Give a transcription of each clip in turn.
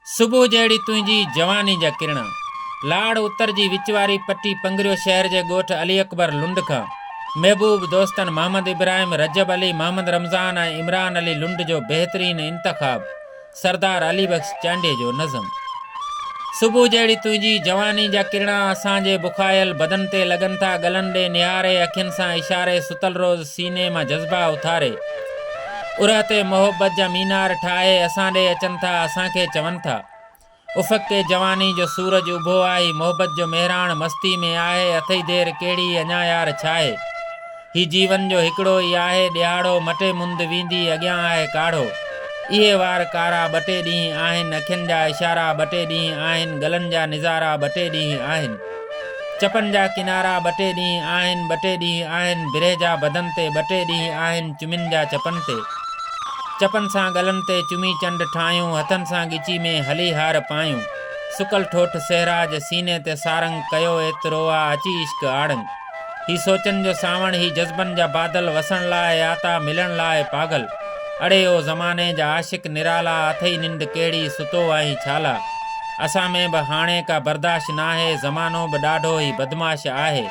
صبح جهڙي تنهنجي جواني جا ڪرڻا. لاڙ اتر جي وچ واري پٽي پنگريو شهر جي ڳوٺ علي اڪبر لنڊ کان محبوب دوستن محمد ابراهيم، رجب علي، محمد رمضان ۽ عمران علي لنڊ جو بهترين انتخاب سردار علي بخش چانڊيي جو نظم صبح جهڙي تنهنجي جواني جا ڪرڻا اسان جي بکايل بدن تي لڳن ٿا ڳلن ڏي نهاري اکين سان اشاري ستل روز سيني مان جذبا اٿاري اورهه تي محبت جا مينار ٺاهي اسان ڏي اچن ٿا اسان کي چون ٿا. افق تي جواني جو سورج اڀو آهي محبت جو مهراڻ مستي ۾ آهي اٿئي دير ڪهڙي اڃا يار ڇاهي هي جيون جو هڪڙو ئي آهي ڏيهاڙو مٽي مند ويندي اڳيان آهي ڪاڙهو اهي وار ڪارا ٻه ٽي ڏينهن آهن اکين جا اشارا ٻه ٽي ڏينهن آهن گلن جا نظارا ٻه ٽي ڏينهن آهن. چپن جا ڪنارا ٻه ٽي ڏينهن آهن، ٻه ٽي ڏينهن آهن، برهه جا بدن تي ٻه ٽي ڏينهن آهن، چمين جا چپن تي. چپن سان ڳلن تي چمي چنڊ ٺاهيون، هٿن سان ڳچي ۾ هلي هار پايون. سڪل ٺوٺ سهرا جي سيني تي سارنگ، ڪيو ايترو آ اچي عشق آڙنگ. هي سوچن جو سانوڻ، هي جذبن جا بادل، وسڻ لاء آتا، ملڻ لاء پاگل. اڙي او زماني جا عاشق نرالا، اٿئي ننڊ ڪهڙي، ستو آهين ڇالا. اسان ۾ به هاڻي ڪا برداشت ناهي، زمانو به ڏاڍو ئي بدمعاش آهي.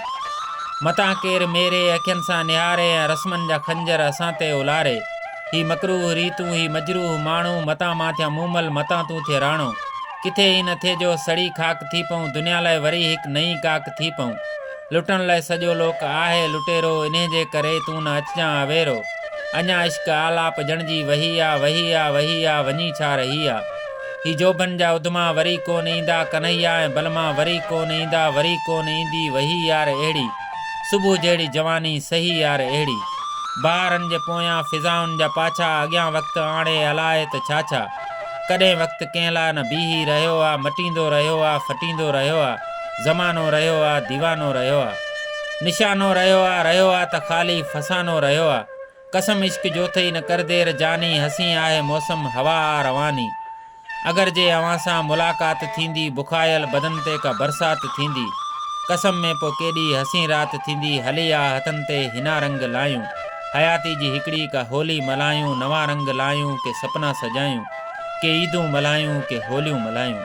متان ڪير ميري اکين سان نهاري ۽ رسمن جا خنجر اسان تي الاري. هي مڪروه ريتون، هي مجروح ماڻهو، متان مان ٿيان مومل، متان تون ٿي راڻو. ڪٿي ائين نه ٿئي جو سڙي خاڪ ٿي پئون، دنيا لاء وري هڪ نئين ڪاڪ ٿي پئون. لٽڻ لاء سڄو لوڪ آهي لٽيرو، انهيء جي ڪري تون نه اچجان آ ويرو. اڃا عشق آلاپ ڄڻ جي وهي آ، وهي آ، وهي آ، وڃي ڇا رهي آ. هي جوڀن جا اڌما وري ڪونه ايندا، ڪنهيا ۽ بلما وري ڪونه ايندا، وري ڪونه ايندي، وهي يار اهڙي. صبح جهڙي جواني، سهي يار اهڙي. بهارن جي پويان فضائن جا پاڇا، اڳيان وقت آڻي الائي ته ڇا ڇا. ڪڏهن وقت ڪنهن لاء نه بيهي رهيو آ مٽيندو رهيو آ ڦٽيندو رهيو آ زمانو رهيو آ ديوانو رهيو آ نشانو رهيو آ رهيو آ ته خالي فسانو رهيو آ قسم عشق جوٿئي نه ڪر دير جاني حسين آهي موسم هوا آ رواني اگر جي اوهان سان ملاقات ٿيندي بکايل بدن تي ڪا برسات ٿيندي قسم ۾ پو ڪيڏي حسين رات ٿيندي هلي آ هٿن تي هنا رنگ لايون. حياتي جي هڪڙي هڪ هولي ملهايون نوان رنگ لايون ڪي سپنا سجايون ڪي عيدون ملهايون ڪي هوليون ملهايون.